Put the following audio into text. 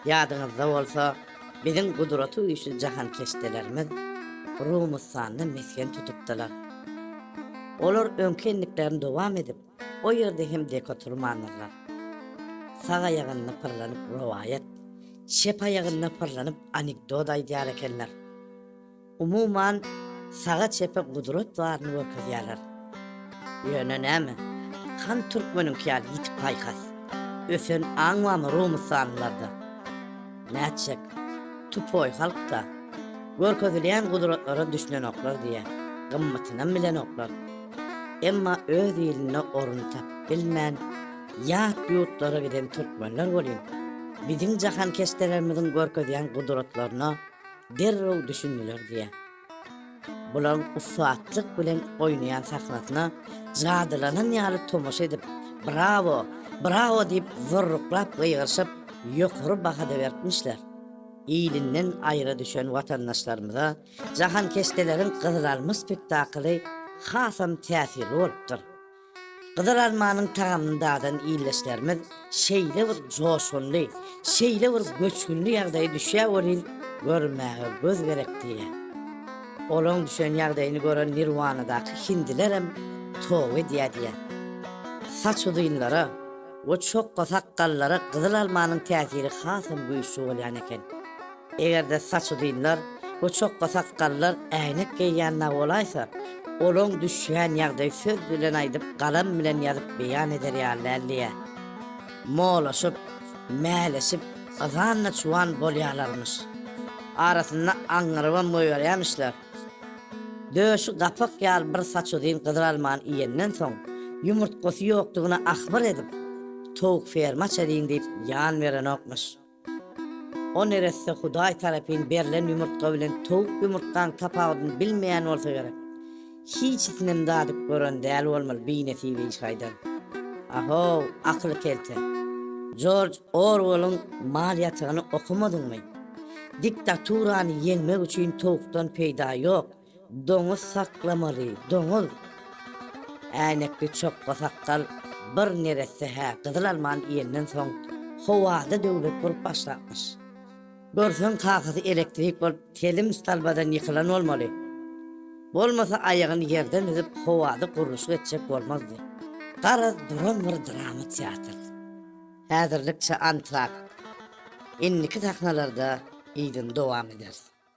Ýadyňyzda bolsa, biziň gudraty güýçli jahankeşdelerimiz Rumustanda mesgen tutupdylar. Olar öňki endiklerini dowam edip, o ýerde hem dek oturmandyrlar. Sag aýagynda pyrlanyp rowaýat, çep aýagynda pyrlanyp anekdot aýdýar ekenler. Umuman, saga-çepe gudrat baryny görkezýärler. Ýöne näme, han türkmeniňki ýaly ýitik paýhas, ösen aň barmy rumussanlylarda? Nätjek, tupoý halk-da, görkezilýän gudratlara düşünenoklar diýä, gymmatynam bilenoklar. Emma öz ilinde orun tapyp bilmän, ýat ýurtlara giden türkmenler welin, biziň jahankeşdelerimiziň görkezýän gudratlaryna derrew düşündiler diýýär. Bularyň ussatlyk bilen oýnaýan sahnasyna jadylanan ýaly tomaşa edip, Brawo! Brawo! diýip zurruklap gygyryşyp, ýokary baha-da beripmişler. Ilinden aýra düşen watandaşlarymyza Jahankeşdeleriň Gyzyl alma spektakly hasam täsirli bolupdyr. Gyzyl almanyň tagamyny dadan ildeşlerimiz şeýle bir joşgunly, şeýle bir göçgünli ýagdaýa düşýär welin, görmäge göz gerek diýýär. Olaň düşen ýagdaýyny gören Nirwanadaky hindilerem toba edýär diýýär. Saç uzynlara we çokga sakgallara gyzyl almanyň täsiri hasam güýçli bolýan eken. Eger-de saç uzynlar we çokga sakgallar äýnek geýýän nagolaýsa, olaň düşýän ýagdaýy söz bilen aýdyp, galam bilen ýazyp beýan eder ýaly däldi-ä. Molaşyp, mäleşip, yzan-da çuwan bolýalarmyş. Arasynda aňňyrybam goýberýämişler. Döşi gapak ýaly bir saç uzyn gyzylalmany iýenden soň, ýumurtgasy ýokdugyny ahbyr edip, towuk ferma çeliň diýip ýan berenokmyş. O neresse Hudaý tarapyn berlen ýumurtga bilen towuk ýumurtgaň tapawudyny bilmeýän bolsa gerek. Hiçisinem dadyp gören däl bolmaly binesibi iş haýdan. Ahow, akyly kelte. Jorj Orwellyň Mal ýatagyny okamadyňmy? Diktaturany ýeňmek üçin towukdan peýda ýok. Doňuz saklamaly, doňuz! Äýnekli çokga sakgal bir neresse hä gyzyl almany iýenden soň howada döwlet bolup başlapmyş. Görseň kakasy elektrik bolup telim stalbadan ýykylan bolmaly. Bolmasa aýagyny ýerden üzüp howada gurluşyk etjek bolmazdy. Garaz duran bir drama teatr. Häzirlikçe antrakt. Indiki sahnalarda yzyny dowam ederis.